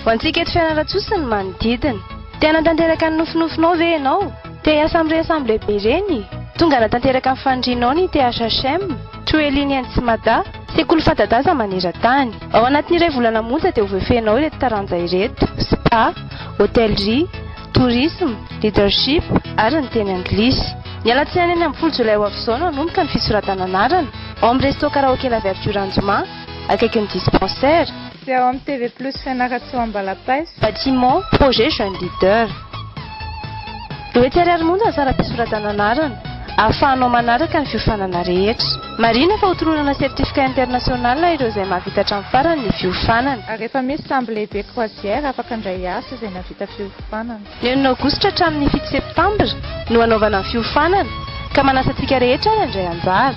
Ho antsika eto Fianarantsoa sy ny manodidina. Te hanatanteraka ny nofinofinao ve ianao? Te hiasa amin'ireny sambo lehibe ireny? Tonga hanatanteraka ny fanirianao ny THHM. Toeliny any Tsimada, sekoly fanta-daza maneran-tany. Ao anatin'ny iray volana monja dia ho voafehinao ireto taranja ireto, Spa, Hôtellerie, Tourisme, Leadership ary ny teny anglisy. Ny alatsinainy enina ambin'ny folo jolay ho avy izao no hanomboka ny fisoratana anarana, ao amin'ny Resto Karaoke La Verdure Anjoma, akaikin'ny Dispensaire. Dia ao amin'ny TV Plus Fianarantsoa Ambalapaiso. Bâtiment, projet jeune leader. Eo etsy ary ary monja ny saram-pisoratana anarana, ahafahanao manaraka ny fiofanana rehetra. Marihina fa hotoronana certificat international ireo izay mahavita hatramin'ny farany ny fiofanana. Ary efa misy sambo lehibe croisière afaka handray asa izay nahavita fiofanana. Ny enina aogositra hatramin'ny fito septambra no hanaovana ny fiofanana ka manasa antsika rehetra handray anjara.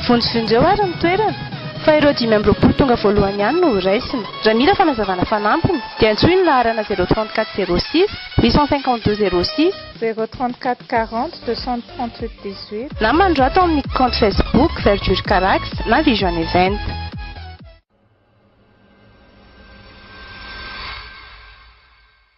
Vonjivonjy eo ary ny toerana fa ireo dimy amby roapolo tonga voalohany ihany no ho raisina. Raha mila fanazavana fanampiny dia antsoy ny laharana zéro trente quatre zéro six huit cent cinquante deux zéro six, Zéro trente quatre quarante deux cent trente huit dix huit. Na manorato amin'ny kaonty Facebook Verdure Carax na Vision Event.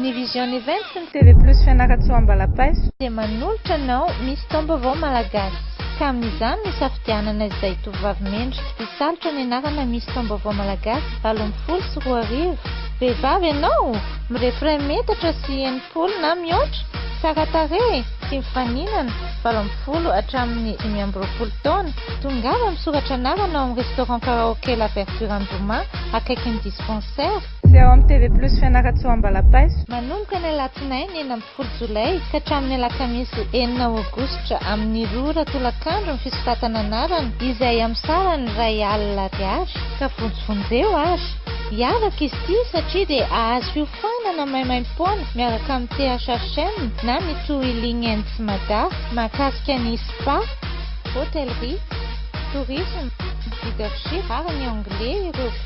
Ny Vision Events sy ny TV Plus Fianarantsoa Ambalapaiso dia manolotra anao misy taom-baovao malagasy. Ka amin'izany no hisafidianana izay tovovavy mendrika hisalotra ny anarana Miss Taom-baovao Malagasy valo ambin'ny folo sy roa arivo. Vehivavy ianao? Mirefy iray metatra sy enimpolo na mihoatra? Tsara tarehy? Tia mifaninana? Valo ambin'ny folo hatramin'ny dimy amby roapolo taona? Tongava misoratra anarana ao amin'ny Restaurant Karaoke La Verdure Andromà, akaikin'ny Dispensaire. Sy ao amin'ny TV Plus Fianarantsoa Ambalapaiso. Manomboka ny alatsinainy enina ambin'ny folo jolay ka hatramin'ny alakamisy enina aogositra amin'ny roa ora tolakandro ny fisoratana anarana izay amin'ny saran'ny iray alina ariary ka vonjivonjeo ary hiavaka izy ity satria dia azo hiofanana maimaimpoana miaraka amin'ny THHM na mitohy Ling Ends Mada mahakasika ny Spa, Hôtellerie, Tourisme, Leadership ary ny Anglais ireo.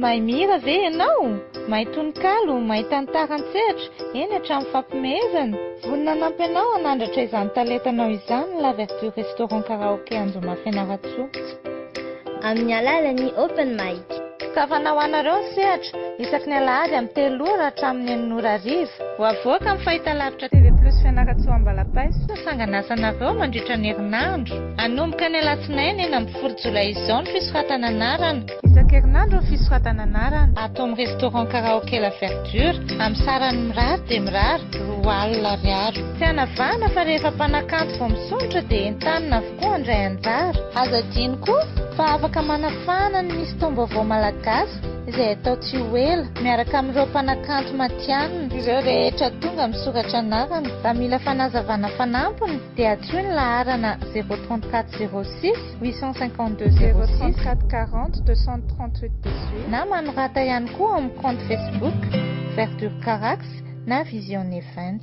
Mahay mihira ve ianao? Mahay tononkalo? Mahay tantara an-tsehatra, eny hatramin'ny fampihomehezana? Vonona hanampy anao hanandratra izany talentanao izany ny Laverture Restaurant Karaoke Anjomafy Fianarantsoa. Amin'ny alalan'ny Open Mic. Tokavana ho anareo ny sehatra, isaky ny alahady amin'ny telo ora hatramin'ny enina ora hariva. Ho avoaka amin'ny fahitalavitra TV Plus Fianarantsoa Ambalapaiso ny sanganasanareo mandritra ny herinandro. Hanomboka ny alatsinainy enina ambin'ny folo jolay izao ny fisoratana anarana. Isan-kerinandro ny fisoratana anarana. Ato amin'ny Restaurant Karaoke La Verdure, amin'ny sarany mirary dia mirary, roa alina ariary. Tsy hanavahana fa rehefa mpanakanto vao misondrotra dia entanina avy. koa handray anjara. Aza adino koa fa afaka manafahana ny misy taom-baovao malagasy izay hatao tsy ho ela, miaraka amin'ireo mpanakanto matihanina. Ireo rehetra tonga misoratra anarana, raha mila fanazavana fanampiny dia antsoy ny laharana 034 06 852 06 034 40 238 18 na manorata ihany koa ao amin'ny kaonty Facebook Verdure Carax na Vision Event.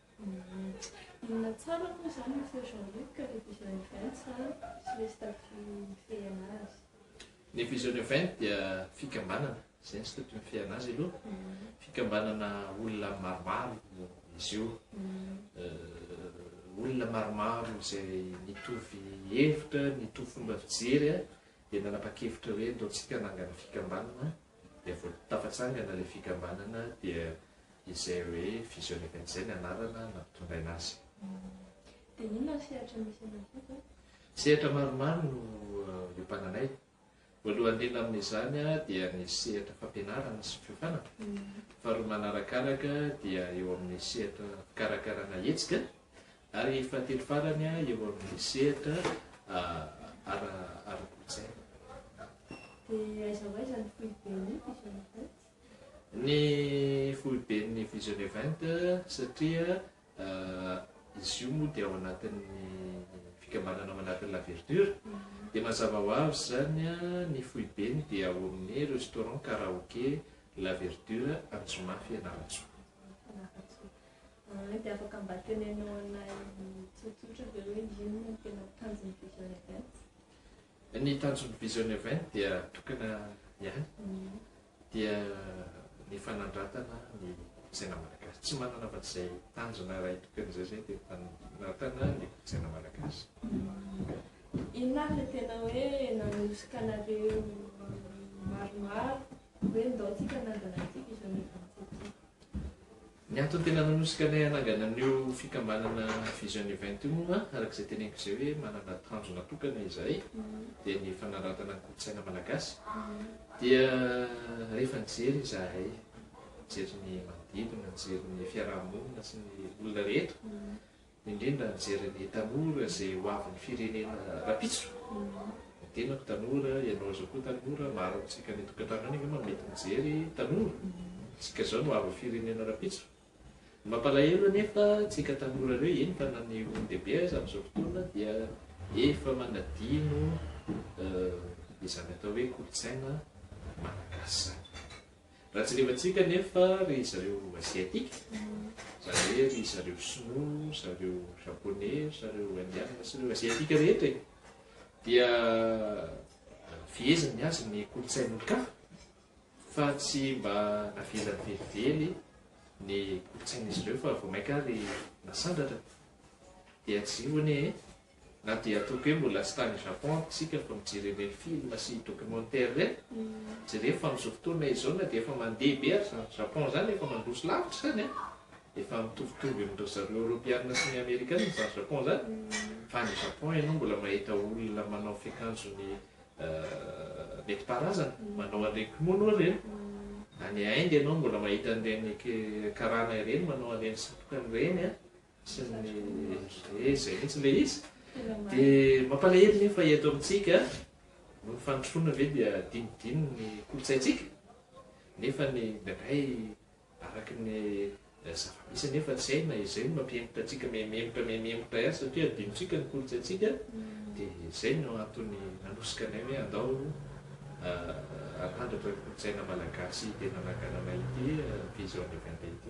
Inona tsara moa izany ny feo Jean Luc ka le vision event sa tsy le staff mifehena azy? Ny vision event dia fikambanana, izay ny staff mifehena azy aloha, fikambanana olona maromaro izy io, olona maromaro izay mitovy hevitra, mitovy fomba fijery dia nanapa-kevitra hoe ndeontsika hanangana fikambanana dia vao tafatsangana ilay fikambanana dia izay hoe visioneka izay ny anarana nampitondraina azy. Dia inona ny sehatra misy anao koa zao? Sehatra maromaro no iompananay. Voalohany indrindra amin'izany dia ny sehatra fampianarana sy fiofana. Faharoa manarakaraka dia eo amin'ny sehatra fikarakarana hetsika Ary fahatelo farany eo amin'ny sehatra ara-kolontsaina. Dia aiza ho aiza ny foiben'ny Vision Event? Ny foiben'ny Vision Event satria izy io moa dia ao anatin'ny fikambanana ao anatin'ny La Verdure dia mazava ho avy izany ny foibeny dia ao amin'ny restaurant karaoke La Verdure Anjomafy Fianarantsoa. Ah, dia afaka mba tenenao anay tsotsotra ve hoe inona no tena tanjon'ny Vision Event? Ny tanjon'ny Vision Event dia tokana ihany, mm. dia ny fanandratana ny kolotsaina malagasy. Tsy manana afa izay tanjona iray tokana izay zay dia fanandratana ny kolotsaina malagasy. Mm. Inona avy le tena hoe nanosika anareo maromaro hoe ndao tsika nandana ity Vision Event ity? Ny antony tena nanosika anay hanangana an'io fikambanana Vision Event io moa, araka izay teneniko izay hoe manana tanjona tokana izahay, dia ny fanaratana ny kolontsaina malagasy. Dia rehefa nijery izahay, nijery ny manodidina, nijery ny fiaraha-monina sy ny olona rehetra, indrindra mijery ny tanora izay ho avin'ny firenena rampitso, ny tenako tanora, ianao izao koa tanora, maro amintsika any an-tokantrano any angamba mety mijery tanora, isika izao no ho avin'ny firenena rampitso. Ny mampalahelo anefa antsika tanora ireo, eny fa na ny olon-dehibe aza amin'izao fotoana dia efa manadino izany atao hoe kolontsaina malagasy izany. Raha jerevantsika anefa ry zareo Asiatika, izany hoe ry zareo Sinoa, zareo Japoney, zareo Indiana sy ireo Asiatika rehetra e, dia feheziny ny azy ny kolontsain'olon-kafa fa tsy mba navelany velively ny kolontsain'izy ireo fa vao mainka ary nasandratra. Dia tsy io anie e. Na dia toky hoe mbola tsy tany Japon ary isika vao nijery ireny film sy documentaire ireny, jereo fa amin'izao fotoana izao na dia efa mandeha be ary izany Japon izany efa mandroso lavitra izany an! efa mitovitovy amin-dry zareo Eoropeana sy ny Amerikana izany Japon izany fa any Japon ianao mbola mahita olona manao fiakanjony nentim-paharazana, manao an'ireny kimono ireny, any Inde ianao mbola mahita an'ireny karana ireny manao an'ireny satroka ireny an! Tsy mety e, izay mihitsy ilay izy. Dia mampalahelo nefa eto amintsika, noho ny fandrosoana ve dia dinidino ny kolontsaintsika? Nefa ny indraindray araka ny zava-misy anefa tsy hay na izay no mampihemotra antsika mihemotra mihemotra ihany satria adinontsika ny kolontsaintsika dia izay no antony nanosika anay hoe andao arandratra ny kolontsaina malagasy tena nagananay ity vision de vente ity.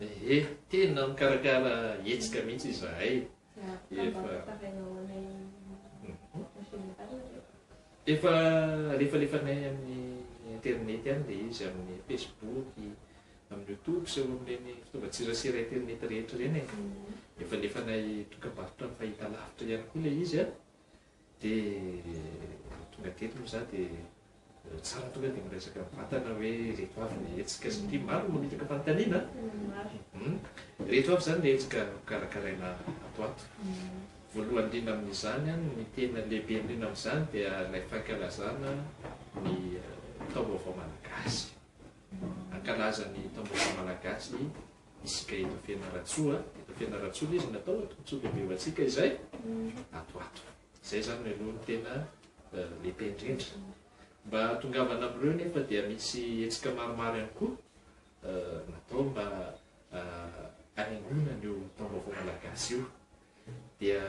Ehe, tena mikarakara hetsika mihitsy izahay efa efa lefalefanay amin'ny internet any ilay izy amin'ny facebook amin'ny youtube sy eo amin'ireny fitaovan-tserasera internet rehetra ireny e. efa lefanay dokam-barotra fahitalavitra ihany koa ilay izy a Dia tonga teto moa za dia tsara tonga dia miresaka amin'ny vatana hoe ireto avy ny hetsika satria maro ny mamitaka fanontaniana an! Ireto avy izany ny hetsika hokarakaraina ato ho ato. Voalohany indrindra amin'izany an, ny tena lehibe indrindra amin'izany dia ilay fankalazana ny taom-baovao malagasy. Hankalaza ny taom-baovao malagasy Misy ka eto Fianarantsoa a! Eto Fianarantsoa ilay izy no atao a, tombotsoa lehibevantsika izay ato ato. Izay izany no aloha no tena lehibe indrindra. Mba hahatongavana amin'ireo anefa dia misy hetsika maromaro ihany koa natao mba hanaingoana an'io Taom-baovao malagasy io. Dia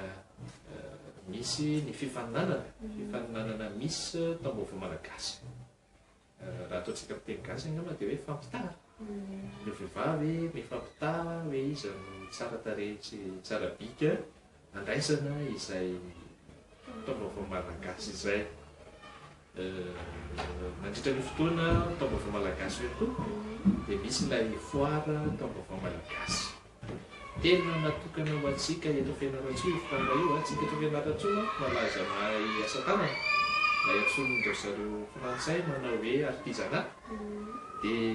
misy ny fifaninanana, fifaninanana Miss Taom-baovao malagasy. Raha ataontsika amin'ny teny gasy angamba dia hoe fampitaha. Ny vehivavy mifampitaha hoe iza no tsara tarehy sy tsara bika handraisana izay taom-baovao malagasy izay. Mandritra ny fotoana taom-baovao malagasy io koa dia misy ilay foara taom-baovao malagasy. Telo no natokana ho antsika eto Fianarantsoa io fotoana io, antsika eto Fianarantsoa manko malaza mahay asa tanana, ilay antsoin-dry zareo frantsay manao hoe artisanat, dia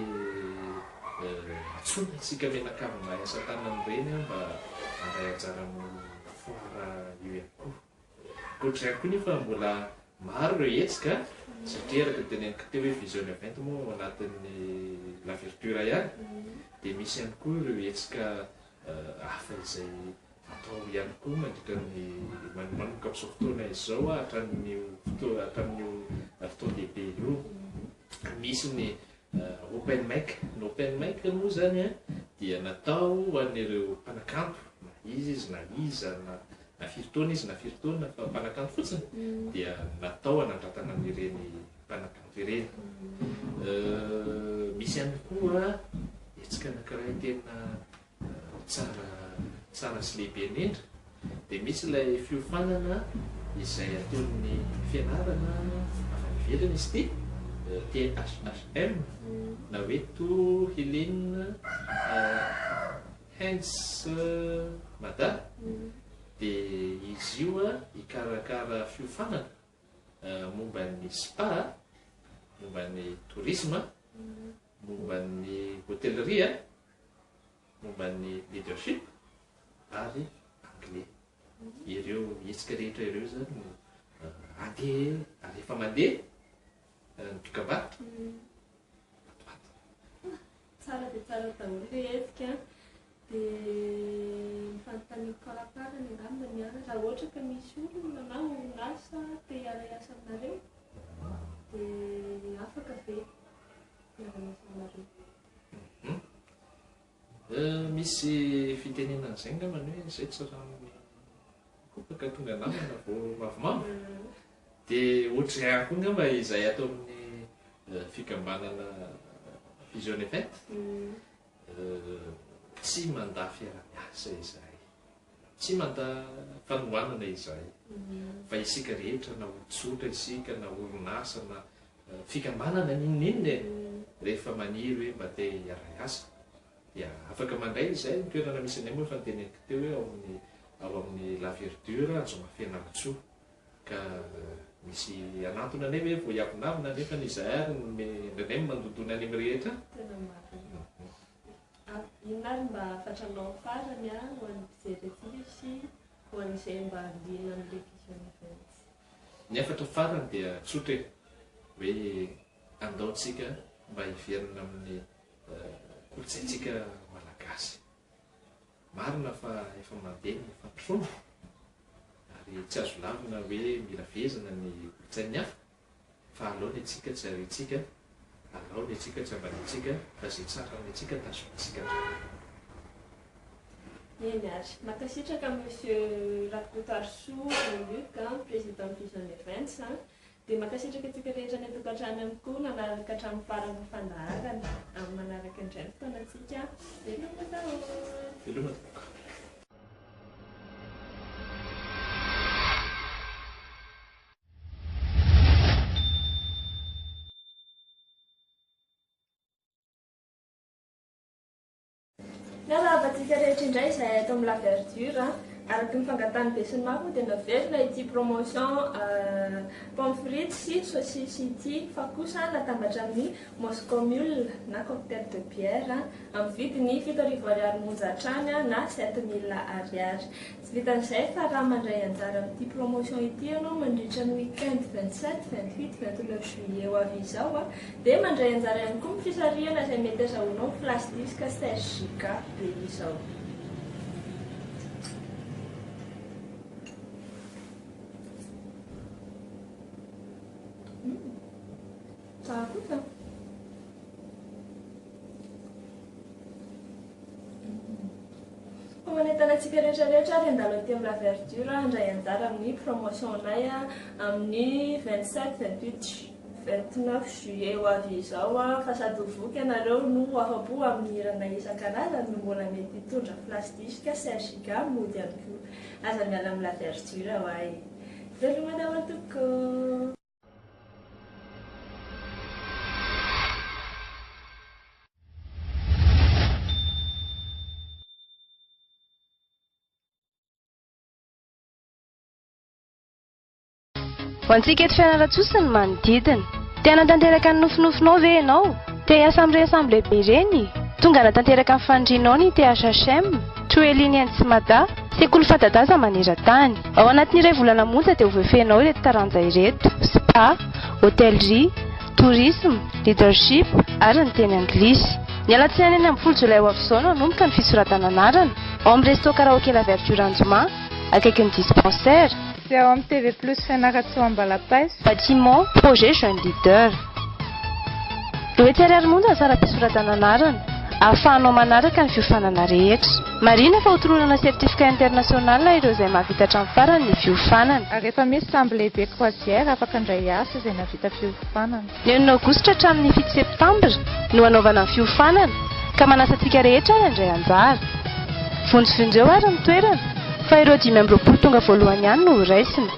antsoina antsika mianakavy mahay asa tanana ireny mba handray anjara amin'io foara io ihany koa. Ankoatr'izay koa nefa mbola maro ireo hetsika satria araka ny teneniko teo hoe vision event moa ao anatin'ny Laverture ihany dia misy ihany koa ireo hetsika hafa izay atao ihany koa mandritra ny manomboka amin'izao fotoana izao hatramin'io fotoana hatramin'io fotoan-dehibe io. Misy ny Open mic, ny open mic moa zany a dia natao ho an'ireo mpanakanto na iza izy na iza na na firy taona izy na firy taona fa mpanakanto fotsiny dia natao hanandratana an'ireny mpanakanto ireny. Misy ihany koa hetsika anankiray tena Tsara tsara sy lehibe indrindra dia misy ilay fiofanana izay atolon'ny fianarana avy any ivelany izy ity, THHM, na hoe To Healing Hands Mada, dia izy io hikarakara fiofanana momba ny spa, momba ny tourisme, momba ny hotellerie, momba ny leadership ary anglais. Ireo hetsika rehetra ireo izany no andeha ary efa mandeha ny dokam-barotra ato ato. Tsara dia tsara daholo ilay hetsika. Dia ny fanontaniako faraparany angamba ny anareo, raha ohatra ka misy olona na orinasa te hiara-hiasa aminareo dia afaka ve? Misy fitenena an'izay angamba ny hoe izay tsy rano kopaka tonga namana vao mavomavo. Dia ohatr'izay ihany koa angamba izay ato amin'ny eh, fikambanana Vision Event. Eh, tsy mandà fiaraha-miasa izahay. Tsy manda fanohanana izahay fa isika rehetra na ho tsotra isika na orinasa na fikambanana n'inon'inona e, rehefa maniry hoe mba te hiara-hiasa dia afaka mandray izay ny toerana misy anay moa efa noteneniko teo hoe ao amin'ny ao amin'ny la verdure Anjomafenamitsoa ka misy hanantona anay ve vao hiavonavona nefa izahay ary no indraindray mandondona any amin'ny rehetra? Inona ary mba fatranao farany a ho an'ny mpijery aty sy ho an'izay mba liana amin'ny Revision Events? Ny hafatra farany dia tsotra e, hoe andao tsika mba hiverina amin'ny kolontsaintsika malagasy. Marina fa efa mandeha ny fampirona ary tsy azo lavina hoe mila fehezina ny kolontsain'ny hafa. Fa alao ny antsika tsy ariantsika, alao ny antsika tsy ambaniantsika, fa izay tsara amin'ny antsika tazonintsika hatrany. Eny ary. Mankasitraka Monsieur Rakotoarisoa Jean Luc, Président Vision Events. Dia mankasitraka antsika rehetra any an-tokantrano ihany koa nanaraka hatramin'ny faran'ny fandaharana. Amin'ny manaraka indray ny fotoanantsika. Veloma daholo. Veloma tompoko. Miarahaba antsika rehetra indray izay eto amin'ny La Verdure. Araka ny fangatahan'ny besinimaro moa dia naverina ity promotion pomme frite sy saucisse ity fa kosa natambatra amin'ny Moscow Mule na cocktail de bière amin'ny vidiny fito arivo ariary monja hatrany na sept mille ariary. Tsy vitan'izay fa raha mandray anjara amin'ity promotion ity ianao mandritra ny week-end vingt sept, vingt huit, vingt neuf juillet ho avy izao dia mandray anjara ihany koa amin'ny fisarihana izay mety azahoanao ny Flash Disc Serge Giga be izao. Tsara kosa an! Ho manentana antsika rehetra rehetra ary handalo aty amin'ny La Verdure handray anjara amin'ny promotion-nay amin'ny vingt sept, vingt huit ju-, vingt neuf juillet ho avy izao an! Fa sady ho voky ianareo no ho afa-po amin'ny hiranay isan-karazany no mbola mety hitondra flash disk, Serge Gam mody ihany koa. Aza miala amin'ny La Verdure ho'a e! Veloma daholo tompoko! Ho antsika eto Fianarantsoa sy ny manodidina. Te hanatanteraka ny nofinofinao ve ianao? Te hiasa amin'ireny sambo lehibe ireny? Tonga hanatanteraka ny fanirianao ny THHM. Toelin any Tsimada, sekoly fanta-daza maneran-tany. Ao anatin'ny iray volana monja dia ho voafehinao ireto taranja ireto, Spa, Hôtellerie, Tourisme, Leadership ary ny teny anglisy. Ny alatsinainy enina ambin'ny folo jolay ho avy izao no hanomboka ny fisoratana anarana, ao amin'ny Resto Karaoke La Verdure Anjoma, akaikin'ny Dispensaire. Dia ao amin'ny TV Plus Fianarantsoa Ambalapaiso. Bâtiment, Projet Jeune Leader. Etsy ariary monja ny saram-pisoratana anarana, ahafahanao manaraka ny fiofanana rehetra. Marihina fa hotoronana certificat international ireo izay mahavita hatramin'ny farany ny fiofanana. Ary efa misy sambo lehibe croisière afaka handray asa izay nahavita fiofanana. Ny enina aogositra hatramin'ny fito septambra no hanaovana ny fiofanana ka manasa antsika rehetra ary handray anjara. Vonjivonjeo ary ny toerana fa ireo dimy amby roapolo tonga voalohany ihany no horaisina.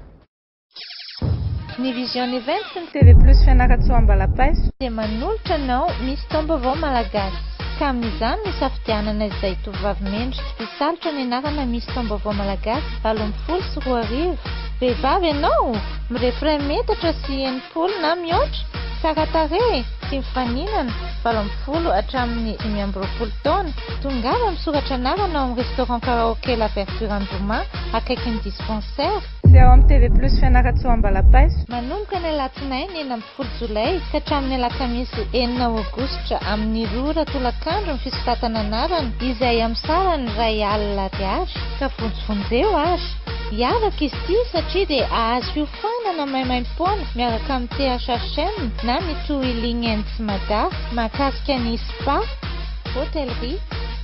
Ny Vision Event sy ny TV Plus Fianarantsoa Ambalapaiso dia manolotra anao misy taom-baovao malagasy. Ka amin'izany nisafidianana izay tovovavy mendrika hisalotra ny anarana Miss Taom-baovao Malagasy valo ambin'ny folo sy roa arivo. Vehivavy ianao? Mirefy iray metatra sy enimpolo na mihoatra? Tsara tarehy? Tia mifaninana? Valo ambin'ny folo hatramin'ny dimy amby roapolo taona? Tongava misoratra anarana ao amin'ny Restaurant Karaoke La Verdure Andromaha. akaikin'ny dispensaire. Sy ao amin'ny TV Plus Fianarantsoa Ambalapaiso. Manomboka ny alatsinainy enina ambin'ny folo jolay ka hatramin'ny alakamisy enina aogositra amin'ny roa ora tolakandro ny fisoratana anarana izay amin'ny saran'ny iray alina ariary ka vonjivonjeo ary hiavaka izy ity satria dia azo hiofanana maimaimpoana miaraka amin'ny THHM na mitohy Ling Ends Mada mahakasika ny Spa, Hotellerie,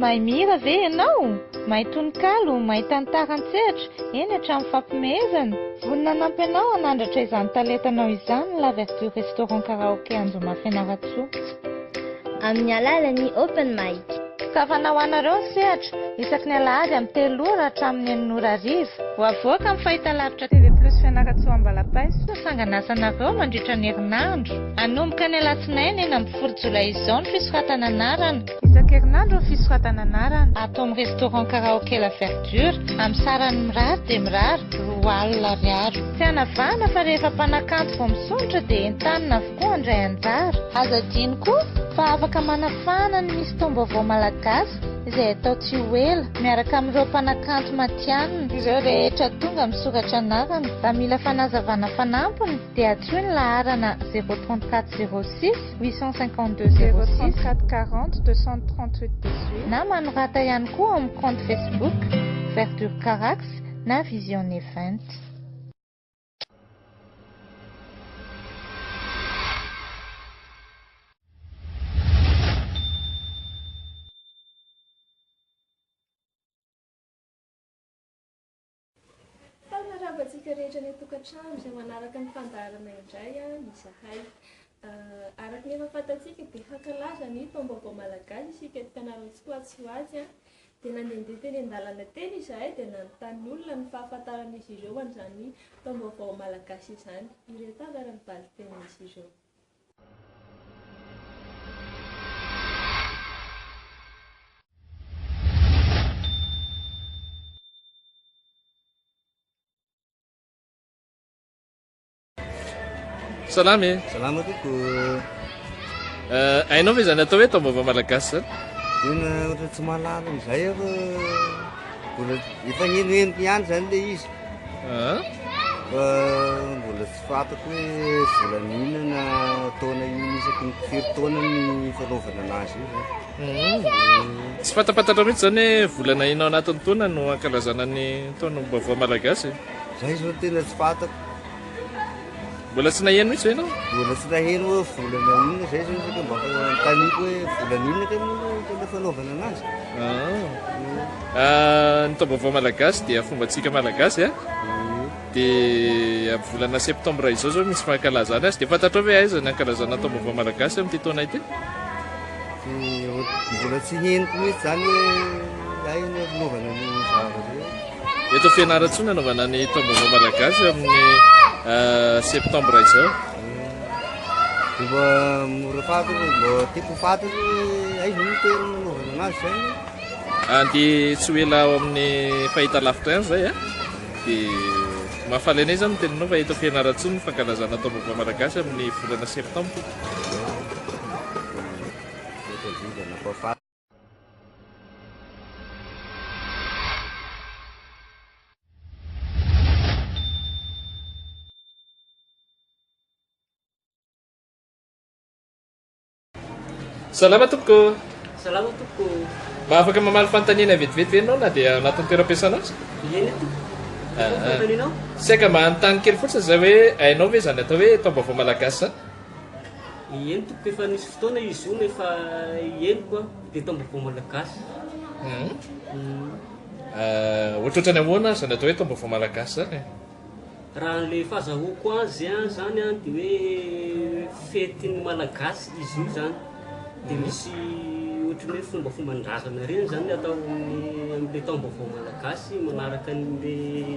Mahay mihira ve ianao? Mahay tononkalo? Mahay tantara an-tsehatra, eny hatramin'ny fampihomehezana? Vonona hanampy anao hanandratra izany talentanao izany ny La Verdure Restaurant Karaoke Anjomafy Fianarantsoa. Amin'ny alalan'ny Open Mic. Goavana ho anareo ny sehatra, isaky ny alahady amin'ny telo ora hatramin'ny enina ora hariva. Ho avoaka amin'ny fahitalavitra TV Plus Fianarantsoa Ambalapaiso ny sanganasanareo mandritra ny herinandro. Hanomboka ny alatsinainy enina ambin'ny folo jolay izao ny fisoratana anarana. Isan-kerinandro ny fisoratana anarana. Ato amin'ny Restaurant Karaoke La Verdure, amin'ny sarany mirary dia mirary, roa alina ariary. Tsy hanavahana fa rehefa mpanakanto vao misondrotra dia entanina koa handray anjara. Aza adino koa fa afaka manafahana ny misy taom-baovao malagasy izay atao tsy ho ela, miaraka amin'ireo mpanakanto matihanina. Ireo rehetra tonga misoratra anarana, raha mila fanazavana fanampiny dia antsoy ny laharana 034 06 852 06 034 40 238 18 na manorata ihany koa ao amin'ny kaonty Facebook Verdure Carax na Vision Event. Tao hanarava antsika rehetra any an-tokantrano izay manaraka ny fandaharana indray an izahay. Araka ny efa fantatsika dia hankalaza ny taom-baovao malagasy isika eto Fianarantsoa ho atsy ho atsy dia nandehandeha teny an-dalana teny izahay dia nanontany olona ny fahafantaran'izy ireo an'izany taom-baovao malagasy izany. Ireto avy ary ny valin-tenin'izy ireo. Salama e. Salama koko. Eh, hainao ve izany atao hoe taom-baovao malagasy zany? Tena ohatra tsy mahalala an'izay aho. Mbola efa nenohenoko ihany zany le izy. Ah. Fa mbola tsy fantako hoe volana inona na taona inona isaky ny firy taona ny fanaovana anazy io zany. Hmm. Tsy fantapantatra mihitsy zany hoe volana inona ao anatin'ny taona no ankalazana ny taona-baovao malagasy. Zay zao tena tsy fantako. Mbola tsy naheno mihitsy ve ianao? Mbola tsy naheno hoe volana inona izay zao saka mba taniko hoe volana inona ka moa tena fanaovana anazy. Ah. Ah, ny taom-baovao malagasy dia fombantsika malagasy a. Ah. Dia amin'ny volana septambra izao zao misy fankalazana azy. Dia fantatrao ve aiza ny ankalazana taom-baovao malagasy amin'ity taona ity? Mbola tsy henoko mihitsy zany hoe aina ny fanaovana ny zavatra. Eto Fianarantsoa no anaovana ny taom-baovao malagasy amin'ny septambra izao. Mba mora faty mba tiako ho faty aiza no toerana nanaovana anazy zay. Andy tsy ho ela ao amin'ny fahita lavitra ihany zay a. Eh? Dia mahafalena izany ny teninao fa eto Fianarantsoa ny fankalazana taom-baovao malagasy amin'ny volana septambra. Salama tompoko. Salama tompoko. Mba afaka mamaly fanontaniana vetivety ve ianao na dia anatin'ny toeram-piasana aza? Eny tompoko. Ah, ah. Fanontanianao? Saika mba hanontany kely fotsiny izay hoe hainao ve izany atao hoe taom-baovao malagasy izany? Eny tompoko efa nisy fotoana izy io nefa henoko an, dia tao am-baovao malagasy. Ohatrohatrany ahoana izany atao hoe tao am-baovao malagasy izany e? Raha an'ilay fahazahoako azy an, izany an, dia hoe fetin'ny malagasy izy io izany. Dia misy ohatran'ny hoe fombafomban-drazana ireny izany ny atao amin'ny amin'ilay taom-baovao malagasy manaraka an'ilay.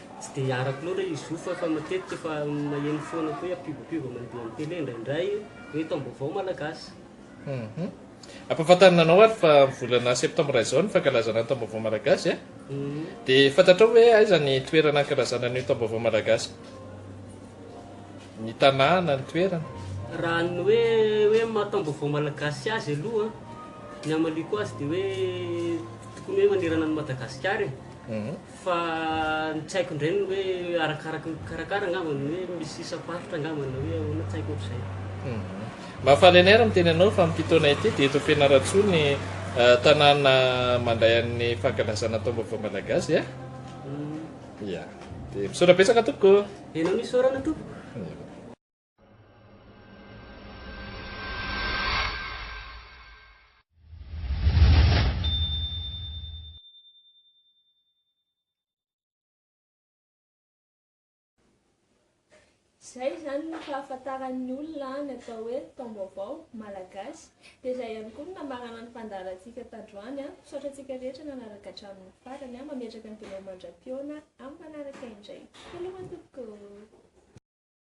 Tsy dia arako loatra i Zofa fa matetika efa maheno foana koa hoe pivopivo mandeha amin'ny tele indraindray hoe taom-baovao malagasy. Ampahafantarina anao ary fa amin'ny volana septambra izao ny fankalazana ny taom-baovao malagasy e! Dia fantatrao ve aiza ny toerana hankalazana an'io taom-baovao malagasy? Ny tanàna, ny toerana? Raha ny hoe hoe maha taom-baovao malagasy azy aloha ny hamaliako azy dia hoe tokony hoe manerana an'i Madagasikara e! Fa ny tsy haiko indray ny hoe arakaraky ny mpikarakara angamba ny hoe misy isam-paritra angamba na hoe ahoana tsy haiko ohatr'izay. Mafalener miteny anao fa amin'ity taona ity dia eto Fianarantsoa ny tanàna mandray an'ny fankalazana taom-baovao malagasy eh? Umm. Ia. Dia misaotra betsaka tompoko. Enao no isaorana tompoko. Izay izany no fahafantaran'ny olona ny atao hoe Taombaovao Malagasy. Dia izay ihany koa no nambarana ny fandaharantsika tandroany. Misaotra antsika rehetra nanaraka hatramin'ny farany. Mametraka ny dondro mandra-pihaona amin'ny manaraka indray. Veloma tompoko!